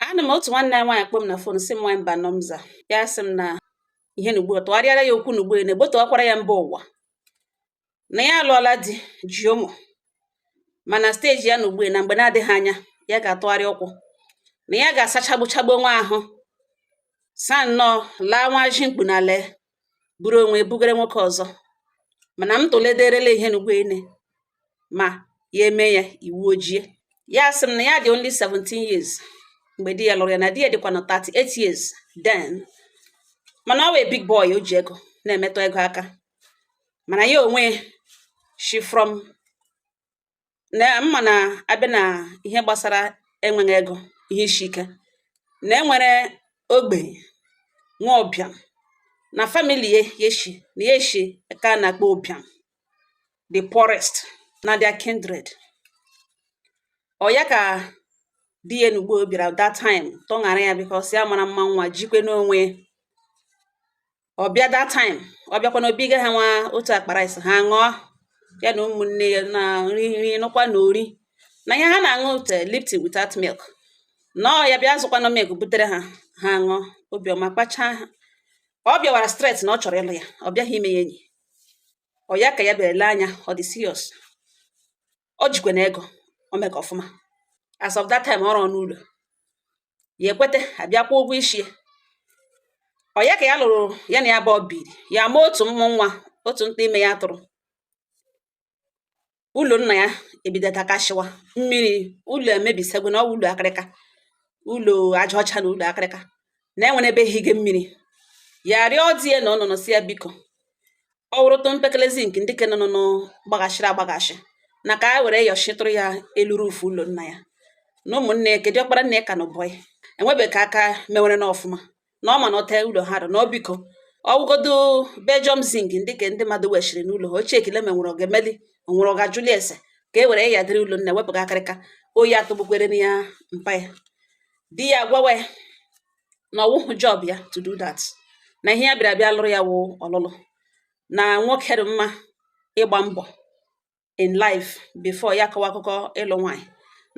anọ m otu nwanne anyị nwaanyị kpọọ m na fon sị m nwaanyị mbano m za ya sị m na ihe na ugbu a tụgharịara ya okwu na ugbu a na-egbotowakwara ya mba ụwa na ya alụọla di ji ụmụ mana steji ya nọ ugbu a na mgbe na-adịghị anya ya ga-atụgharị ụkwụ na ya ga-asachagbuchagbu onwe ahụ saa nnọọ laa nwa ji mkpu na lee buru onwe bugere nwoke ọzọ mana m tụlederela ihe na ugbu a na ma ya eme ya iwu ojie ya sị m na ya dị only 17 years mgbe di ya lụrụ ya na di ya dịkwa na 38 years then mana ọ wụ a big boy o ji ego na-emetụ ego aka mana ya onwe shi from na mma na abịa na ihe gbasara enweghị ego ihe ishi ike na enwere ogbenye nwee ụbịam na famili ye ya eshi na ya eshi ka a na-akpọ ụbịam the poorest na their kindred ọ ya ka di ya na ugbu a bịara that time tọṅara ya because ya mara mma nwa jikwe n'onwe ọ bịa that time ọ bịakwa na o buga ha nwa otu akpa rice ha ṅụọ ya na ụmụnne ya na nri nri nụkwa na ori na ihe ha na-aṅụ wụ tea eh, lipton without milk na ọ ya bịa zụkwanụ milk butere ha ha ṅụọ obiọma kpachaa ha ọ bịawara straight na ọ chọrọ ịlụ ya ọ bịaghị ime ya enyi ọ ya ka ya bịara ele anya ọ dị serious o jikwa na ego o mega ọfụma as of that time ọ rụọna ụlọ ya ekwete a bịa kwụọ ụgwọ isi ọ ya ka ya lụrụ ya na ya abụọ biri ya ma otu mmụ nwa otu ntụ ime ya tụrụ ụlọ nna ya ebido takashịwa mmiri ụlọ emebisago na ọwụ ụlọ akịrịka ụlọ aja ọcha na ụlọ akịrịka na enwere ebe ehige mmiri ya rịọ di ya na ọ nọ nọ sị ya biko ọ wụrụ tụ mpekele zinc ndị ke nọnụ gbaghashịrị agbaghashị na ka a were yọchitụrụ ya elu rufu ụlọ nna ya na ụmụnne ya ke dụ ọkpara nna ya ka nọ bọyị enwebeghị ka aka mewere na ọfụma na ọ ma na otu ụlọ ha dụ na ọ biko ọwụgodo belgium zinc ndị ke ndị mmadụ weshiri n'ụlọ ha ochie ka e lee ma e nwere ọ ga-emeli onwere ọ ga-ajụli ese ka e were ya dịrị ụlọ nna wepụga akịrịka oyi atụgbukwerena ya mpa ya di ya gwawa na ọwụhụ job ya to do that na ihe ya bịara bịa lụrụ ya wụ ọlụlụ na nwoke dị mma ịgba mbọ in life before ya akọwa akụkọ ịlụ nwaanyị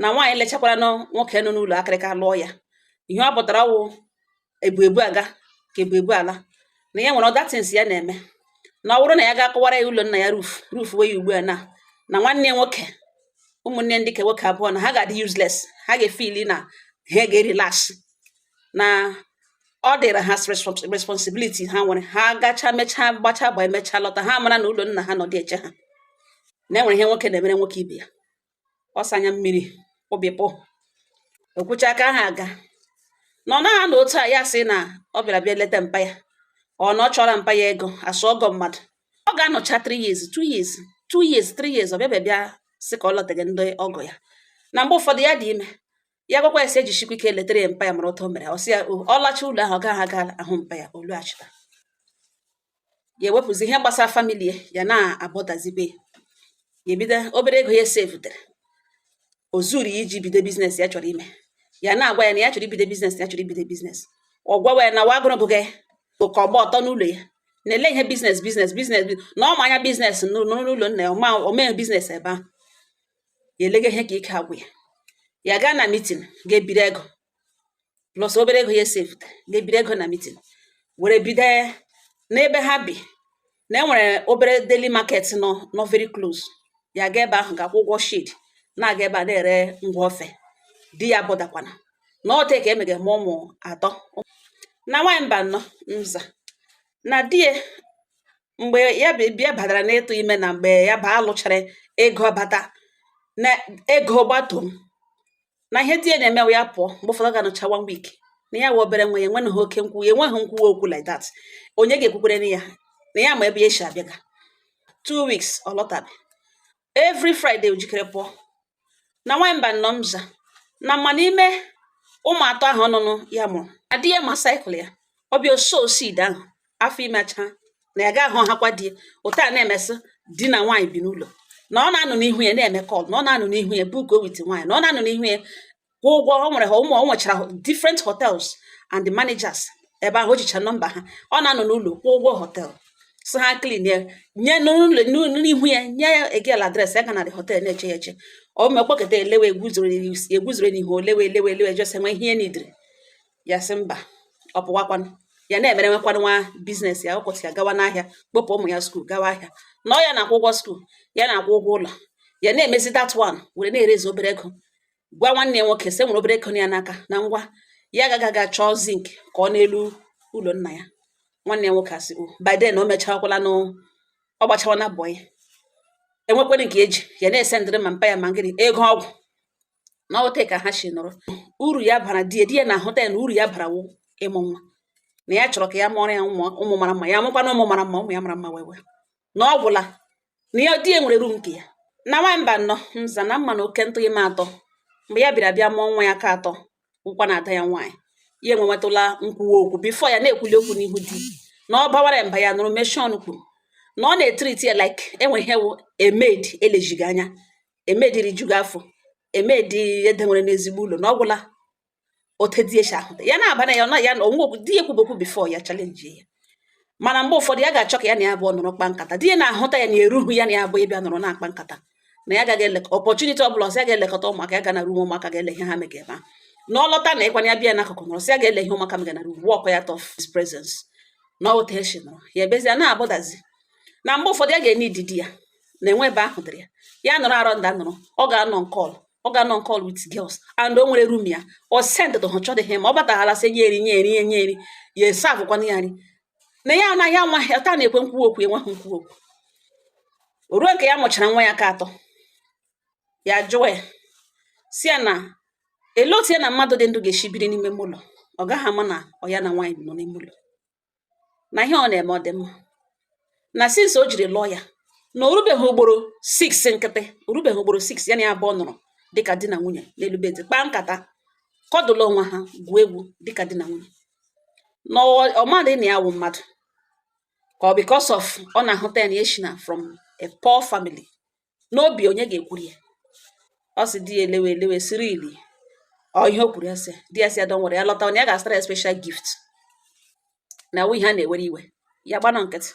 na nwaanyị lechakwara na nwoke nọ n'ụlọ akịrịka lụọ ya ihe ọ pụtara wụ ebu ebu aga ka ebu ebu ala na ya nwere other things ya na-eme na ọ bụrụ na ya ga-akụwara ya ụlọ nna ya ruf ruf wee ya ugbu a na na nwanne nwoke ụmụnne ndị ke nwoke abụọ na ha ga-adị useless ha ga-efili na ha ga-erelax na ọ dịrị ha responsibiliti ha nwere ha gacha mechaa gbacha gba emechaa lọta ha mara na ụlọ nna ha nọ dị eche ha na enwere ihe nwoke na-emere nwoke ibe ya ọsa anya mmiri obi pụ o kwuchaa ka ha aga na ọ naghị na otu a ya sị na ọ bịara bịa leta mpa ya ọ na ọ chọrọ mpa ya ego as ọgọ mmadụ ọ ga-anọcha 3 years 2 years 2 years 3 years ọ bịa bịa sị ka ọ lọtaghị ndị ọgọ ya na mgbe ụfọdụ ya dị ime ya gwakwa ya sị ejisikwa ike letara ya mpa ya mara otu o mere ọ sị ya ọ lacha ụlọ ahụ ọ gaghị aga ahụ mpa ya olu achịta ya ewepụzi ihe gbasara famili ya ya na-abọdazibe ya ebido obere ego ya sevutere o zuru ya iji bido biznes ya chọrọ ime ya na-agwa ya na ya chọrọ ibido biznes ya chọrọ ibido biznes ọ gwawa ya na wa agụrụ bụga oke ọgba ọtọ n'ụlọ ya na-ele ihe biznes biznes biznes na ọ ma anya biznes n'ụlọ nna ya ọma omee biznes ebe ahụ ya elega ihe ka ike agwụ ya ya gaa na mitin ga-ebiri ego plus obere ego ya esevute ga-ebiri ego na mitin were bido n'ebe ha bi na enwere obere daily market nọ very close ya ga ebe ahụ ga-akwụ ụgwọ shed na-aga ebe a na-ere ngwa ofe di ya bọdakwana na ọte ka emege ma ụmụ atọ na nwaanyị mba nọ nza na di ya mgbe ya bịa badara n'ịtụ ime na mgbe ya ba alụchara ego bata na ego gbato na ihe di ya na-emewe ya pụọ mgbe ụfọdụ ga-anọcha one week na ya wụ obere nwa ya enweghị oke nkwuwa enweghị nkwuwa okwu like that onye ga-ekwukwere na ya na ya ma ebe ya si abịaga two weeks ọ lọtabe every Friday o jikere pụọ na nwaanyị mba nọ mza na ma n'ime ụmụ atọ ahụ ọnụnụ ya mụrụ di ya ma saịkụl ya ọ bịa ọ sow seed ahụ afọ ime achaa na ya ga-ahụ hakwa di ya otu a na-emesị di na nwaanyị bi n'ụlọ na ọ na-anọ n'ihu ya na-eme kọl na ọ na-anọ n'ihu ya buko with nwaanyị na ọ na-anọ n'ihu ya kwụ ụgwọ o nwere ha ụmụ o nwechara different hotels and the managers ebe ahụ o jicha nọmba ha ọ na-anọ n'ụlọ kwụ ụgwọ hotel so ha clean ya nye n'ụlọ n'ụlọ n'ihu ya nye the girl adres ya ga na the hotel na-eche ya eche o mekpọketa elewe eguzoro eguzoro n'ihu olewe elewe elewe jọs enwe ihe ya nidiri ya sị mba ọ pụwakwanụ ya na-emere nwekwanụ nwa biznes ya ụtụtụ ya gawa n'ahịa kpọpụ ụmụ ya skuul gawa ahịa na ọ ya na-akwụ ụgwọ skuul ya na-akwụ ụgwọ ụlọ ya na-emezi that one were na-erezi obere ego gwa nwanne ya nwoke sị nwere obere ego ya n'aka na ngwa ya ga-aga ga chọọ zinc kụọ n'elu ụlọ nna ya nwanne ya nwoke asị by then o mechakwala nụ ọ gbachawana bọyị enwekwere nke eji ya na-esendịrị ma mpa ya ma ngịrị ego ọgwụ na ọwụta ka ha si nọrọ uru ya bara di ya na-ahụta ya na uru ya bara wụ ịmụ nwa na ya chọrọ ka ya mụọrọ ya ụmụ mara mma ya mụkwana ụmụ mara mma ụmụ ya mara mma wee wee na ọ gwụla na ya di ya nwere room nke ya na nwaanyị mba nnọ nza na mma na oke ntụ ime atọ mgbe ya bịara bịa mụọ nwa ya nke atọ wụkwa na ada ya nwaanyị ya enwenwetụla nkwuwa okwu before ya na-ekwuli okwu n'ihu di na ọ bawara mba ya nọrọ meshie ọnụ kwuru na ọ na-etreat ya like enwe ihe wụ a maid e leziga anya a maid rijuga afọ a maid e dewere n'ezigbo ụlọ na ọ gwụla otu di ya shi ahụta ya na-aba na ya na ya na onwe di ya ekwube okwu before ya challenge ya mana mgbe ụfọdụ ya ga-achọ ka ya na ya abụọ nọrọ kpa nkata di ya na-ahụta ya na eruhu ya na ya abụọ ịbịa nọrọ na-akpa nkata na ya gaghị eleka opportunity ọ bụla ọ sị ya ga-elekọta ụmụaka ya ga na room ụmụaka ga-ele ihe ha mega ebe a na ọ lọta na ịkwanye ya bịa n'akụkụ nọrọ sị ya ga-ele ihe ụmụaka mega na room walk out of his presence na oteshi nọrọ ya ebezie na-abụdazi na mgbe ụfọdụ ya ga-eneed di ya na enwe ebe ahụ dịrị ya ya nọrọ around ya nọrọ ọ ga-anọ on call ọ ga-anọ on call with girls and o nwere room ya ọ send to ha chọdịghị ma ọ bataghala sị nye eri nye eri nye nye eri ya eservekwana ya nri na ya anaghị anwa ya taa na-ekwe nkwuwa okwu enweghị nkwuwa okwu o ruo nke ya mụchara nwa ya nke atọ ya jụọ ya sị ya na elee otu ya na mmadụ dị ndụ ga-esi biri n'ime ụlọ ọ gaghị ama na ọ ya na nwaanyị nọ n'ime ụlọ na ihe ọ na-eme ọ dị mma na since o jiri lụọ ya na o rubeghị ugboro 6 nkịtị o rubeghị ugboro 6 ya na ya abụọ nọrọ dịka di na nwunye n'elu bed kpaa nkata cuddle onwe ha gwuo egwu dịka di na nwunye na ọ- ọ maghị na ya wụ mmadụ ka ọ because of ọ na-ahụta ya na ya shi na from a poor family n'obi onye ga-ekwuru ya ọ sị di ya elewe elewe sị really ọ ihe o kwuru ya sị di ya sị ya don't worry ya lọta ọ na ya ga-azụtara ya special gift na ọ wụ ihe a na-ewere iwe ya gbanụ nkịtị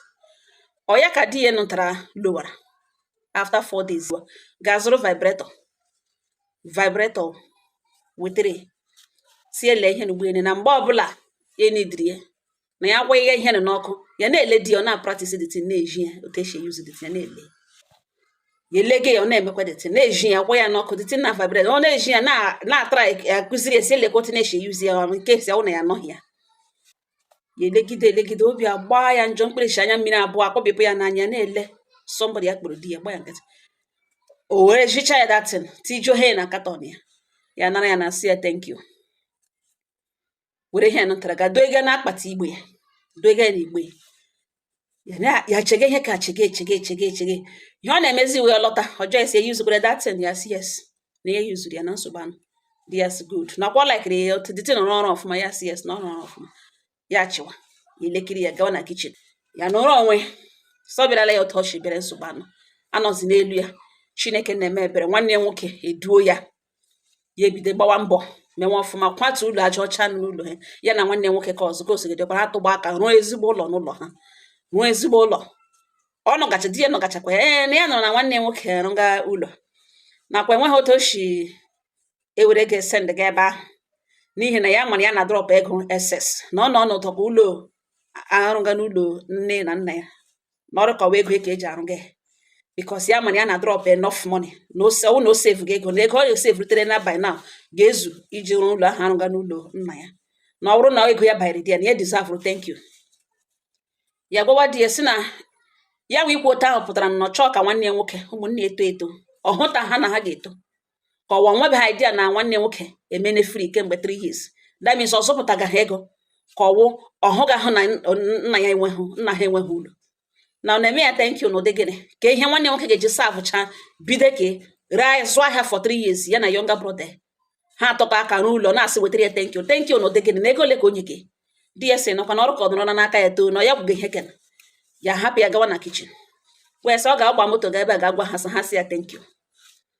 ọ ya ka di ya nụtara lọwara after four days gaa zụrụ vibrator vibrator wetara ya sị lee ihe n'ugbo ene na mgbe ọ bụla ya eneediri ya na ya gwa ihe ihere n'ọkụ ya na-ele di ya ọ na-apractise the thing na-ezi ya otu esi euse the thing ya na-ele ya elege ya ọ na-emekwa the thing na-ezi ya gwa ya n'ọkụ the thing na-avibrate ọ na-ezi ya na- na-atara ya akụziri ya sị elekwa otu na-esi euse ya ọrụ in case ọ wụ na ya anọghị ya ya elegide elegide obi agbaa ya njọ mkpịrịsị anya mmiri abụọ akpọbịpụ ya n'anya na-ele somebody ya kpụrụ di ya gba ya nkịtị o were zichaa ya that thing tijuo ihe na carton ya ya nara ya na sị ya thank you were ihe nụtara ga doge n'akpati igbe ya doge n'igbe ya ya chege ihe ka chege chege chege chege ihe ọ na-emezi wee lọta ọ jụọ ya sị i usekwara that thing ya sị yes na ya useru ya na nsogbu anọghị di ya sị good na ọkwa likeri ya otu the thing na-arụ ọrụ ọfụma ya sị yes na ọ na-arụ ọfụma ya chịwa ya elekiri ya gawa na kitchen ya nọrọ onwe sị ọ bịarala ya otu o shi bịara nsogbu anụ anọzi n'elu ya chineke na-eme ebere nwanne ya nwoke eduo ya ya ebido gbawa mbọ mewe ọfụma kwatu ụlọ aja ọcha n'ụlọ ha ya na nwanne nwoke ka ọzọ ka osigidekwana atụkọọ aka rụọ ezigbo ụlọ n'ụlọ ha rụọ ezigbo ụlọ ọ nọgacha di ya nọgachakwa ya ee na ya nụrụ na nwanne nwoke rụga ụlọ na ọkwa enweghị otu o si ewerega sendga ebe ahụ n'ihi na ya mara ya na-adrọpụ ego excess na ọ nọ n'ụtọ ka ụlọ arụga n'ụlọ nne na nna ya na ọ rị ka ọ wụ ego ka eji arụga ya because ya mara ya na-adrọp enough money na ọ wụ na o sevuga ego na ego ọ ga-esevurutere na by now ga-ezu iji rụọ ụlọ ahụ arụga n'ụlọ nna ya na ọ bụrụ na ego ya bayere di ya na ya deserve thank you ya gwawa di ya si na ya nwa ikwu otu ahụ pụtara na ọ chọọ ka nwanne ya nwoke ụmụnne eto eto ọ hụtaha na ha ga-eto ka ọ wụ o nwebeha idea na nwanne nwoke emene free kemgbe 3 years that means ọ zụpụtagaha ego ka ọ wụ ọ hụgahụ na nna ya enweghị nna ha enweghị ụlọ na ọ na-eme ya thank you n'ụdị gịnị ka ihe nwanne nwoke ga-eji savụcha bido ka ree zụọ ahịa for 3 years ya na younger brother ha atụkọọ aka rụọ ụlọ na-asị wetara ya thank you thank you n'ụdị gịnị na ego ole ka ọ nyega di ya si nọkwa na ọ rị ka ọ nọrọ n'aka ya too na ya gwụgo ihe kena ya hapụ ya gawa na kitchen wee sị ọ ga-agba moto ga ebe a ga-agwa ha sị ha sị ya thank you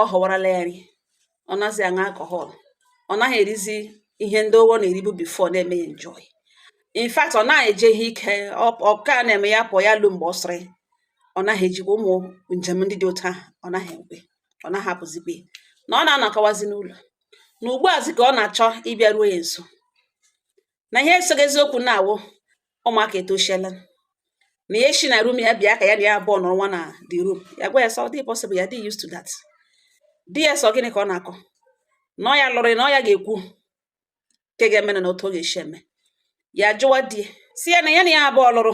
ọ họwarala ya nri ọ nazi aṅụ alcohol ọ naghị erizi ihe ndị ahụ ọ na-eribu before na-eme ya enjoy in fact ọ naghị eje ihe ike ọ ka na-eme ya pụọ ya lu mgbe ọ sịrị ọ naghị ejekwa ụmụ njem ndị dị otu ahụ ọ naghị ekwe ọ naghị apụzikwa na ọ na-anọkọwazi n'ụlọ na ugbu azi ka ọ na-achọ ịbịaruo ya nso na ihe esoghị eziokwu na-awụ ụmụaka etoshiela na ya shi na room ya bịa ka ya na ya abụọ nọrọwa na the room ya gwa ya sị ọ dị possible ya dị used to that di ya sị ọ gịnị ka ọ na-akọ na ọ ya lụrụ na ọ ya ga-ekwu nke ga-eme na otu ọ ga-esi eme ya jụwa di ya sị ya na ya na ya abụọ lụrụ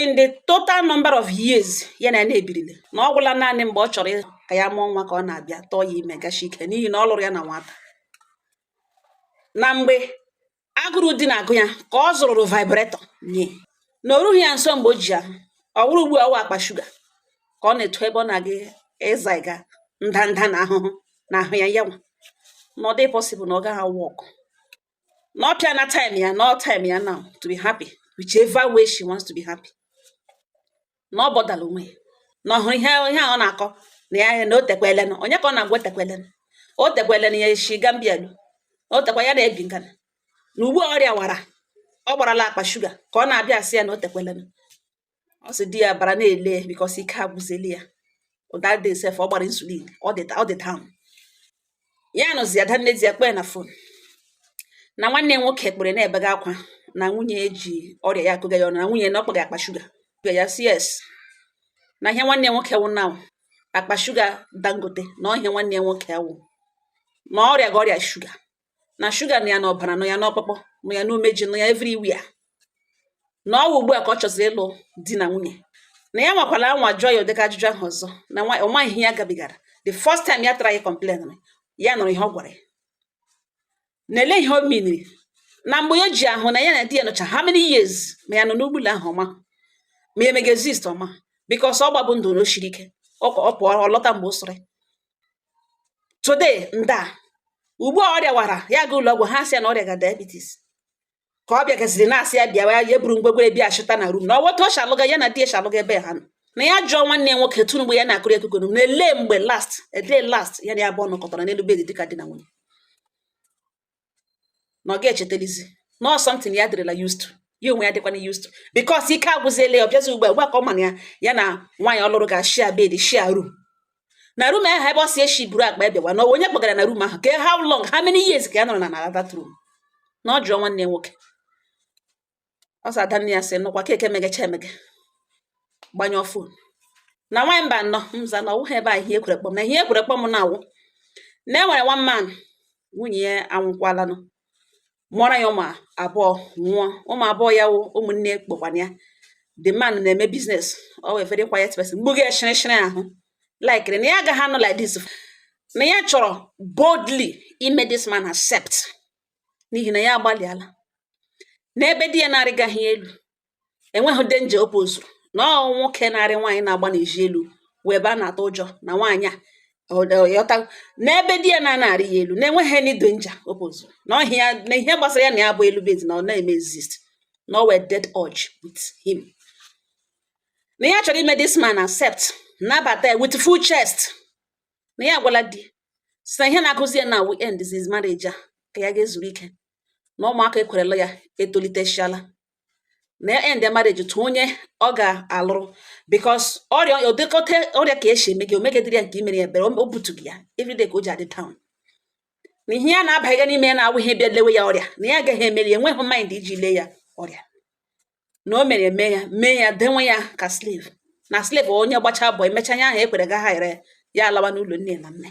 in the total number of years ya na ya ebirile na ọ gwụla naanị mgbe ọ chọrọ ka ya mụọ nwa ka ọ na-abịa tụọ ya ime gashi ike n'ihi na ọ lụrụ ya na nwata na mgbe agụrụ di na-agụ ya ka ọ zụrụrụ vibrator nye na o rughị ya nso mgbe o ji ahụ ọ wụrụ ugbu a ọ wụ akpa shuga ka ọ na-eto ebe ọ na-aga ịzaga ndanda na ahụhụ na ahụ ya yanwa na ọ dị possible na ọ gaghị awọkụ na ọ pịana time ya na ọ time ya now to be happy whichever way she wants to be happy na ọ bọdala onwe ya na ọ hụrụ ihe ihe a ọ na-akọ na ya na o tekwelenụ onye ka ọ na-agwa o tekwelenụ o tekwelenụ ya eshi Gambia lu o tekwa ya na-ebi na Ghana na ugbu a ọrịa wara ọ gbarala akpa shuga ka ọ na-abịa asị ya na o tekwelenụ ọ sị di ya bara na-ele because ike agwụzili ya that day sef ọ gbara insulin ọ dị down ya nụzi ada nne di ya kpee na phone na nwanne nwoke kpere na-ebega akwa na nwunye eji ọrịa ya akọga ya ọnụ na nwunye na ọ kpọga akpa shuga ya sị yes na ihe nwanne nwoke wụ na akpa shuga dangote na ọ ihe nwanne nwoke wụ na ọ rịaga ọrịa shuga na shuga nọ ya n'ọbara nọ ya n'ọkpụkpụ nọ ya n'umeji nọ ya everywhere na ọ wụ ugbu a ka ọ chọziri ịlụ di na nwunye na ya nwakwara anwa jụọ ya ụdịka ajụjụ ahụ ọzọ na nwa ọ maghị ihe ya gabigara the first time ya tara ya complain ya nụrụ ihe ọ gwara ya na ele ihe o miniri na mgbe ya ji ahụ na ya na di ya nọcha how many years ma ya nọ n'ugbula ahụ ọ ma ma ya mega exist ọma because ọ gbabụ ndụ na o siri ike ọ pụọ ọ lọta mgbe o sịrị today nda ugbu a ọ rịawara ya ga ụlọ ọgwụ ha sị ya na ọ rịaga diabetes ka ọ bịagaziri na-asị ya bịawa ya buru ngwegwere bịa chụta na room na ọwọta ọ shalụga ya na di eshalụga ebe ha nọ na ya jụọ nwanne ya nwoke tụrụ mgbe ya na-akọrọ ya akụkọ na ele mgbe last ele last ya na ya abụọ nọkọtara n'elu bedi dịka di na nwunye na ọ ga-echetelizi na ọ something ya dịrịla used to ya onwe ya dịkwana used to because ike agwụziela ya ọ bịazi ugbu a ugbu a ka ọ mana ya ya na nwaanyị ọ lụrụ ga share bed share room na room ahụ ebe ọ si eshi buru akpa abịawa na onye kpọgara na room ahụ ke how long how many years ka ya nọrọ na na that room na ọ jụọ nwanne nwoke ọ sị adanne ya sị nụkwa keke megecha emege gbanyụọ phone na nwaanyị mba nọ mza na ọwụghị ebe a ihe ekwere kpọm na ihe ekwere kpọm na-awụ na e nwere one man nwunye ya anwụkwalanụ mụọra ya ụmụ abụọ nwụọ ụmụ abụọ ya wụ ụmụnne kpọkwana ya the man na-eme business ọ wee very quiet person mgbugo ya shịrịshịrị ahụ likere na ya agaghị anọ like this na ya chọrọ boldly ime this man accept n'ihi na ya agbalịala n'ebe di ya na-arịgaghị elu enweghị danger o pozuru na ọ nwoke na-arị nwaanyị na-agba n'ezi elu wụ ebe a na-atụ ụjọ na nwaanyị a yọta n'ebe di ya na-ana arị ya elu na-enweghị any danger o pozuru na ọhịa ya na ihe gbasara ya na ya bụ elu bed na ọ na-eme exist na ọ wee dead urge with him na ya chọrọ ime this man accept nabata ya with full chest na ya agwala di sị na ihe na-agụzi ya na we end this marriage a ka ya gaa zuru ike na ụmụaka ekwerela ya etolitechala na ya end marriage tụ onye ọ ga-alụrụ because ọrịa odekọta ọrịa ka esi eme gị omegedịrị ya nke i mere ya ebere o butu gị ya everyday ka o ji adị down na ihe ya na-abaghịga n'ime ya na-awụ ihe bịa lewe ya ọrịa na ya agaghị emeri enweghị mind iji lee ya ọrịa na o mere eme ya mee ya denwe ya ka slave na slave onye gbacha bọ emecha anya ahụ ekwere ga ha ere ya alawa n'ụlọ nne na nna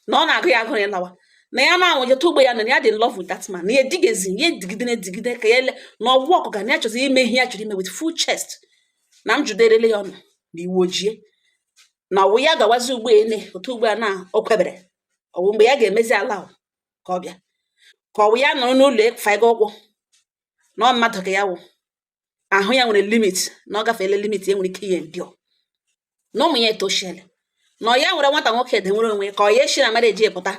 na ọ na-agụ ya agụ ya lawa na ya na-anwụje tụ ugbo ya na ya dị in love with that man na ya edigezi ya edigide na-edigide ka ya ele na ọgwụ ọkụ ga na ya chọzi ime ihe ya chọrọ ime with full chest na m jụderele ya ọnụ na iwu ojie na ọwụ ya gawazi ugbo ele otu ugbo a na o kwebere ọwụ mgbe ya ga-emezi ala ka ọ bịa ka ọwụ ya nọrọ n'ụlọ faiga ụkwụ na ọ mmadụ ka ya wụ ahụ ya nwere limit na ọ gafeela limit ya nwere ike ị endure na ụmụ ya etoshiele na ọ ya nwere nwata nwoke denwere onwe ka ọ ya eshi na marriage pụta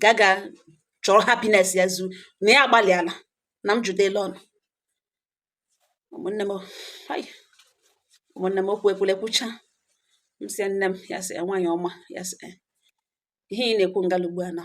gaga chọrọ happiness ya zu na ya agbalịala na m jụdela ọnụ ụmụnne m hai ụmụnne m okwu ekwula ekwucha m sị nne m ya sị nwaanyị ọma ya sị ihe ị na-ekwu ngala ugbu a na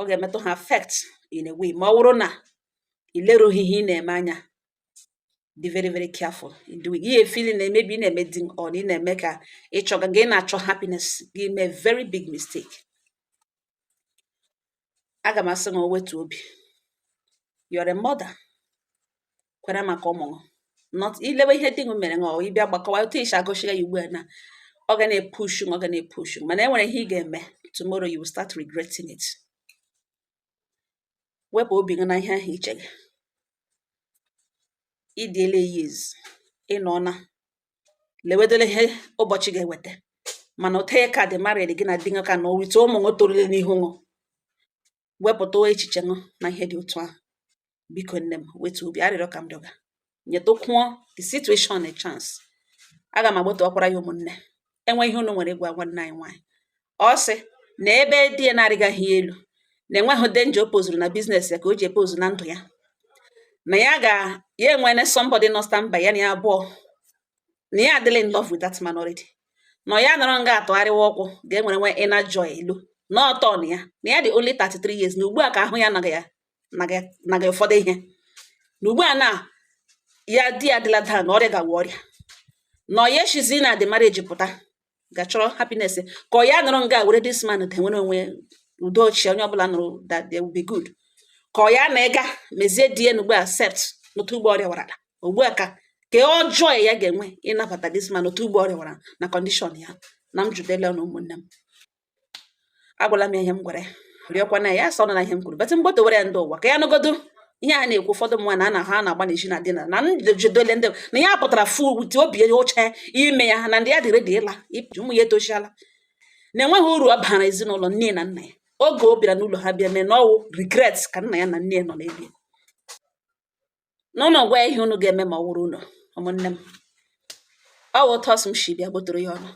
ọ ga-emetụ ha affect in a way ma ọ bụrụ na ị lerughị ihe ị na-eme anya be very very careful in doing ihe ị feel na maybe ị na-eme di ṅụ na ị na-eme ka ịchọga gị na-achọ happiness gị emee very big mistake aga m asị ṅụ wetu obi you're a mother kwere maka ụmụ not ilewe ihe di gị mere ọ ịbịa gbakọwa otu i si agụchiri ya ugbu a na ọ ga na-epushu ọ ga na-epushu mana e nwere ihe ị ga-eme tomorrow you will start regretting it wepụ obi gị na ihe ahụ i che gị idiele years ịnọ na lewedole ihe ụbọchị ga-eweta mana ụta ya ka dị married gị na di gị ka na owite ụmụ ṅụ torule n'ihu ṅụ wepụta echiche ṅụ na ihe dị otu ahụ biko nne m wetu obi arịrịọ ka m rịọga nyetụkwuo the situation a chance aga m agbata ọkwara ya ụmụnne e nwee ihe unu nwere ịgwa nwanne anyị nwaanyị ọ sị na ebe di ya na-arịgaghị elu na enweghị danger o pozuru na business ya ka o ji epozu na ndụ ya na ya ga ya enwele somebody nọ standby ya na ya abụọ na ya adịla in love with that man already na ya nọrọ nga atụgharịwa ọkwụ ga-enwere nwe inner joy elu na ọtọ na ya na ya dị only 33 years na ugbu a ka ahụ ya naga ya ụfọdụ ihe na ugbu a na ya di ya adịla down na ọrịa gawa ọrịa na ọ ya eshizi na the marriage pụta gachọrọ happiness ka ọ ya nọrọ nga were this man denwere onwe udo chi onye ọbụla nụrụ that they will be good ka ọ ya na ịga mezie di ya n'ugbu a accept n'otu ụgbọ ọrịa warala ugbu a ka ka ọjọọ ya ga-enwe ịnabata this man otu ụgbọ ọrịa wara na condition ya na m jụdela na ụmụnne m agwala m ya ihe m gwara ya rịọkwa na ya sọ na ihe m kwuru but m gbodowere ya ndị ụwa ka ya nụgodu ihe a na-ekwu ụfọdụ mma na ana ha na-agba n'ezi na dina na ndịjidole ndị na ya pụtara fu wute obi ya oche ime ya na ndị ya dị ready ịla ipụji ụmụ ya etoshiala na enweghị uru ọ bara ezinụlọ nne na nna ya oge ọ bịara n'ụlọ ha bịa mee na ọwụ regret ka nna ya na nne ya nọ na-ebi na ụnụ gwa ihe ụnụ ga-eme ma ọ wụrụ ụnụ ụmụnne m ọ wụ otu ọsụ m shi bịa gbotoro ya ụnụ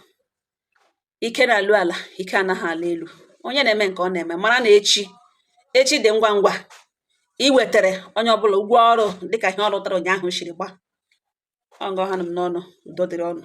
ike na-ala ala ike anaghị ala elu onye na-eme nke ọ na-eme mara na echi echi dị ngwa ngwa iwetere onye ọbụla ụgwọ ọrụ dịka ihe ọ rụtara ụnyaahụ shiri gba ọ nga ọ ha m n'ọnụ udo dịrị ụnụ